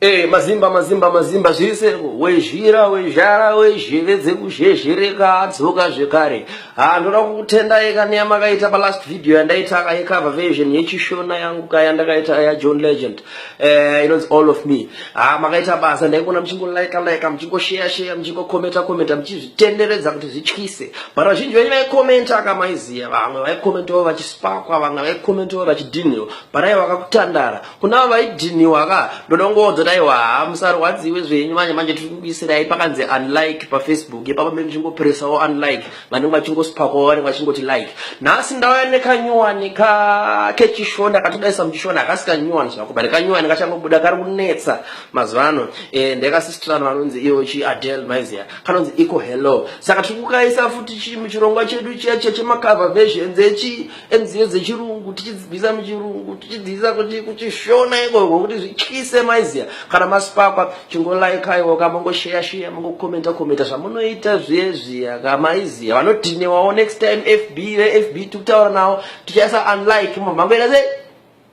Hey, eh, mazimba mazimba mazimba zviriseko wezhira wezhara wezheve dzekuzhezhereka adzoka zvekare ha ndoda kukutenda yekaniya makaita palast video yandaita kayekava version yechishona yangu kaya ndakaita yajohn legend eh, inonzi all of me ha makaita basa ndaikuona muchingolaika laika muchingosheya sheya muchingokometa kometa muchizvitenderedza kuti zvityise but vazhinji venyu vaikomenta akamaiziya vamwe vaikomentawo vachispakwa vamwe vaikomentawo vachidhinhiwa but aiwa kakutandara kuna vaidhiniwa ka ndoda kungoonzwa taiwa haa musarwadziwe zvenyu manje manje tiri kukuisirai pakanzi unlike pafacebook ipapa mene muchingopresawo unlike vanenge vachingosipakawo vanenge vachingoti like nhasi ndauya nekanyuwani ka kechishona katodaisa muchishona hakasi kanyuwani zvako but kanyuwani kachangobuda kari kunetsa mazuva ano eh, ndekasistrano vanonzi iyo chi adel maizia kanonzi iko hello saka tiri kukaisa futi chi muchirongwa chedu chiya chiya chemakava versions echi nziyo dzechirungu tichidzibvisa muchirungu tichidzivisa kuti kuchishona ikoko kuti zvityise maiziya kana masipakwa chingolaikaiwa ka mongosheya sheya mongokomenta komenta zvamunoita zviye zviya ka maiziya vanodhinewawo next time fb vefb tikutaura nawo tichaisa unlike mamhangoita sei